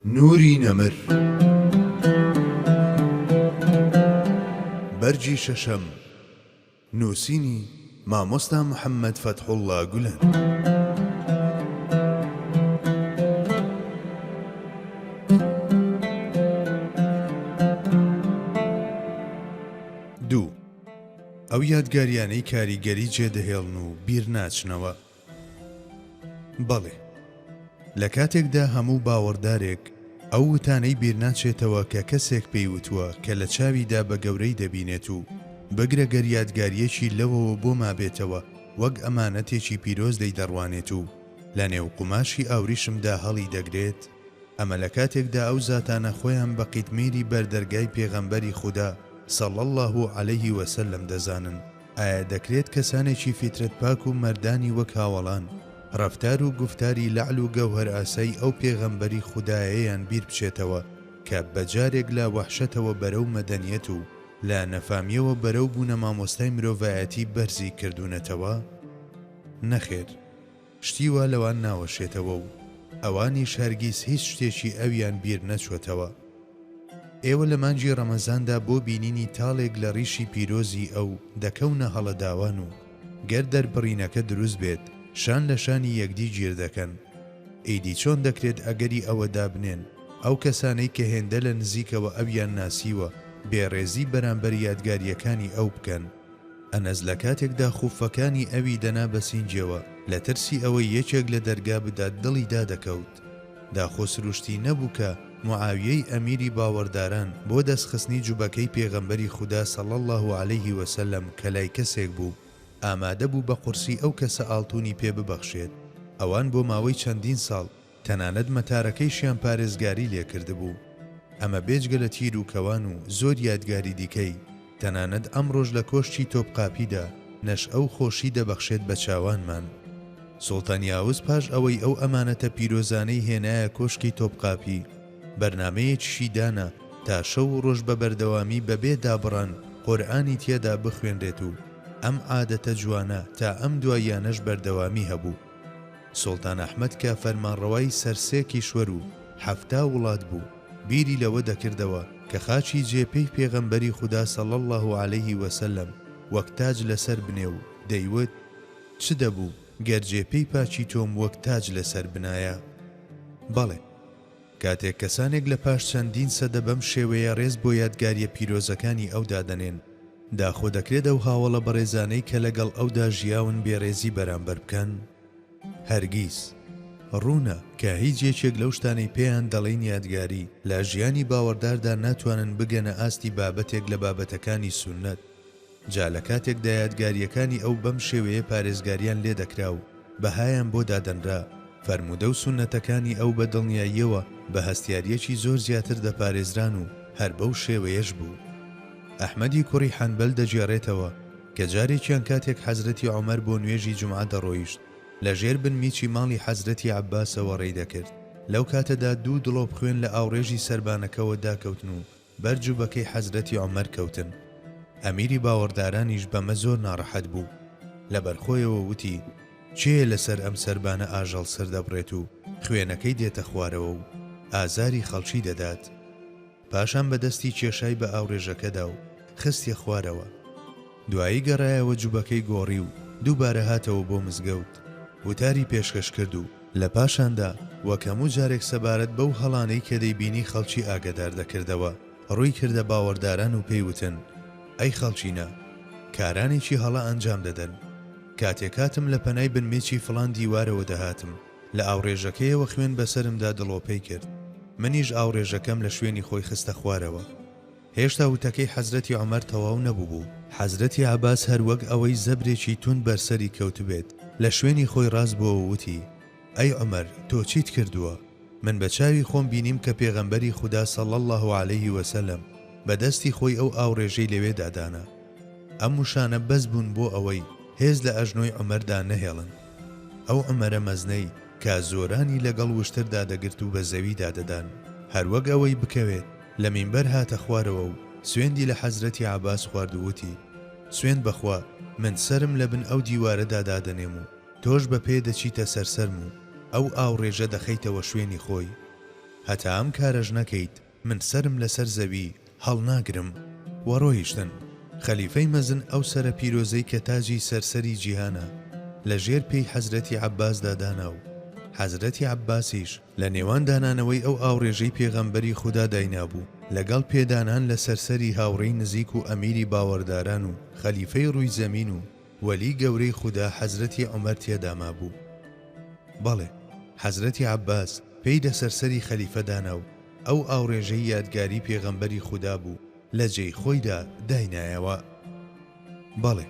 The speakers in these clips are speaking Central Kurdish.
نوری نەمر بەرگی شەشەم نووسینی، مامۆستا محەمەد فەتحوڵا گولەن. ئەو یادگاریانەی کاریگەری جێدەهێڵن و بیرناچنەوە بەڵێ، لە کاتێکدا هەموو باوەڕدارێک ئەو وتانەی بیرناچێتەوە کە کەسێک پێی وتووە کە لە چاویدا بە گەورەی دەبینێت و بگرە گەر یادگارییەکی لەوەوە بۆ مابێتەوە وەک ئەمانەتێکی پیرۆز لێی دەڕوانێت و لە نێو قوماشی ئاوریشمدا هەڵی دەگرێت، ئەمە لە کاتێکدا ئەو زاتانە خۆیان بە قیتمیری بەر دەرگای پێغەمبەری خودا صلی اللە علیه و سلم دەزانن. ئایا دەکرێت کەسانێکی فیترەت پاک و مەردانی وەک هاوەڵان، ڕەفتار و گوفتاری لەعل و گەوهەرئاسای ئەو پێغەمبەری خودایەیەیان بیر بچێتەوە کە بە جارێک لە وەحشەتەوە بەرەو مەدەنیەت و لە نەفامیەوە بەرەو بوونە مامۆستای مرۆڤایەتی بەرزی کردوونەتەوە؟ نەخێر. شتی وا لەوان ناوەشێتەوە و ئەوانیش هەرگیز هیچ شتێکی ئەویان بیر نەچووەتەوە. ئێوە لە مانگی ڕەمەزاندا بۆ بینینی تاڵێک لە ڕیشی پیرۆزی ئەو دەکەونە هەڵە داوان و گەر دەربڕینەکە دروست بێت شان لە شانی یەکدی گیر دەکەن. ئیدی چۆن دەکرێت ئەگەری ئەوە دابنێن ئەو کەسانەی کە هێندە لە نزیکەوە ئەویان ناسیوە بێڕێزی بەرامبەر یادگارییەکانی ئەو بکەن؟ ئەنەس لە کاتێکدا خوفەکانی ئەوی دەنا بە سینگێوە لە ترسی ئەوەی یەکێک لە دەرگا بدات دڵی دادەکەوت. داخۆ سروشتی نەبوو کە معاویەی ئەمیری باوەڕداران بۆ دەستخستنی جوبەکەی پێغەمبەری خودا صلی اللە علیه وسلم کە لای کەسێک بوو ئامادە بوو بە قورسی ئەو کەسە ئاڵتونی پێ ببەخشێت ئەوان بۆ ماوەی چەندین ساڵ تەنانەت مەتارەکەیشیان پارێزگاری لێ کردبوو. ئەمە بێجگە لە تیر و کەوان و زۆر یادگاری دیکەی، تەنانەت ئەمڕۆش لە کۆشکی تۆپقاپیدا نەشئە و خۆشی دەبەخشێت بە چاوانمان. سوڵتان یاوز پاش ئەوەی ئەو ئەمانەتە پیرۆزانەی هێنایە کۆشکی تۆپقاپی، بەرنامەیەکیشی دانا تا شەو و ڕۆژ بە بەردەوامی بە بێ دابڕان قورئانی تێدا بخوێنرێت و ئەم عادەتە جوانە تا ئەم دواییانەش بەردەوامی هەبوو. سوڵتان ئەحمەد کە فەرمانڕەوای سەر سێ کیشوەر و حەفتا وڵات بوو، بیری لەوە دەکردەوە کە خاچی جێ پێی پێغەمبەری خودا صلی اللە علیه و سلم وەک تاج لەسەر بنێ و دەیوت، چ دەبوو گەر جێ پێی پاکی تۆم وەک تاج لەسەر بنایە؟ بەڵێ! کاتێک کەسانێک لە پاش چەندین سەدە بەم شێوەیە ڕێز بۆ یادگارییە پیرۆزەکانی ئەو دادەنێن، داخۆ دەکرێت ئەو هاوەڵە بەڕێزانەی کە لەگەڵ ئەودا ژیاون بێڕێزی بەرامبەر بکەن؟ هەرگیز. ڕوونە کە هیچ یەکێک لەو شتانەی پێیان دەڵێین یادگاری، لە ژیانی باوەڕداردا ناتوانن بگەنە ئاستی بابەتێک لە بابەتەکانی سوننەت. جا لە کاتێکدا یادگارییەکانی ئەو بەم شێوەیە پارێزگارییان لێ دەکرا و بەهایان بۆ دادەنرا، فەرموودە و سوننەتەکانی ئەو بە دڵنیاییەوە بە هەستیارییەکی زۆر زیاتر دەپارێزران و هەر بەو شێوەیەش بوو. ئەحمەدی کوڕی حەنبەل دەگێڕێتەوە کە جارێکیان کاتێک حەزرەتی عومەر بۆ نوێژی جومعە دەڕۆیشت، لە ژێر بن میچی ماڵی حەزرەتی عەبباسەوە ڕێی دەکرد، لەو کاتەدا دوو دڵۆپ خوێن لە ئاوڕێژی سەربانەکەوە داکەوتن و، بەر جوبەکەی حەزرەتی عومەر کەوتن ئەمیری باوەڕدارانیش بەمە زۆر ناڕەحەت بوو لەبەر خۆیەوە وتی کێیە لەسەر ئەم سەربانە ئاژەڵ سەردەبڕێت و خوێنەکەی دێتە خوارەوە و ئازاری خەڵکی دەدات پاشان بەدەستی کێشای بە ئاوڕێژەکەدا و خستیە خوارەوە. دوایی گەڕایەوە جوبەکەی گۆڕی و دووبارە هاتەوە بۆ مزگەوت وتاری پێشکەش کرد و لە پاشاندا وەک هەموو جارێک سەبارەت بەو هەڵانەی کە دەیبینی خەڵکی ئاگەدار دەکردەوە ڕووی کردە باوەڕداران و پێی وتن، ئەی خەڵکینە! کارانێکی هەڵە ئەنجام دەدەن. کاتێک هاتم لە پەنای بنمیچی فڵان دیوارەوە دەهاتم، لە ئاوڕێژەکەیەوە خوێن بەسەرمدا دڵۆپەی کرد. منیش ئاوڕێژەکەم لە شوێنی خۆی خستە خوارەوە. هێشتا وتەکەی حەزرەتی عومەر تەواو نەبووبوو، حەزرەتی عەباس هەر وەک ئەوەی زەبرێکی توند بەر سەری کەوتبێت، لە شوێنی خۆی ڕاست بووە و وتی، ئەی عومەر تۆ چیت کردووە؟ من بە چاوی خۆم بینیم کە پێغەمبەری خودا صلی اللە علیه و سلم بە دەستی خۆی ئەو ئاوڕێژەی لەوێدا دانا. ئەم وشانە بەس بوون بۆ ئەوەی هێز لە ئەژنۆی عومەردا نەهێڵن. ئەو عومەرە مەزنەی کە زۆرانی لەگەڵ وشتردا دەگرت و بە زەویدا دەدان، هەر وەک ئەوەی بکەوێت. لە مینبەر هاتە خوارەوە و سوێندی لە حەزرەتی عەباس خوارد و وتی، سوێند بە خوا من سەرم لە بن ئەو دیوارەدا دادەنێم و تۆش بە پێ دەچیتە سەر سەرم و ئەو ئاوڕێژە دەخەیتەوە شوێنی خۆی. هەتا ئەم کارەش نەکەیت من سەرم لەسەر زەوی هەڵناگرم. و ڕۆیشتن. خەلیفەی مەزن ئەو سەرە پیرۆزەی کە تاجی سەر سەری جیهانە، لە ژێر پێی حەزرەتی عەباسدا دانا و حەزرەتی عەباسیش، لە نێوان دانانەوەی ئەو ئاوڕێژەی پێغەمبەری خودا داینابوو لەگەڵ پێدانان لەسەر سەری هاوڕێی نزیک و ئەمیری باوەڕداران و خەلیفەی ڕووی زەمین و وەلی گەورەی خودا حەزرەتی عومەر تێدا مابوو. بەڵێ، حەزرەتی عەباس پێی لەسەر سەری خەلیفە دانا و ئەو ئاوڕێژەی یادگاری پێغەمبەری خودا بوو لە جێی خۆیدا داینایەوە. بەڵێ،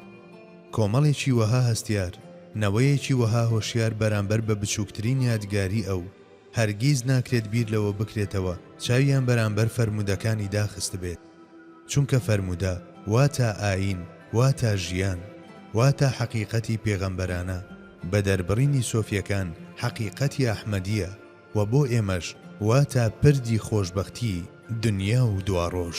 کۆمەڵێکی وەها هەستیار، نەوەیەکی وەها هۆشیار بەرامبەر بە بچووکترین یادگاری ئەو، هەرگیز ناکرێت بیر لەوە بکرێتەوە چاویان بەرامبەر فەرموودەکانی داخستبێت. چونکە فەرموودە واتا ئایین، واتا ژیان، واتا حەقیقەتی پێغەمبەرانە، بە دەربڕینی سۆفییەکان حەقیقەتی ئەحمەدییە. وە بۆ ئێمەش واتە پردی خۆشبەختی دنیا و دواڕۆژ.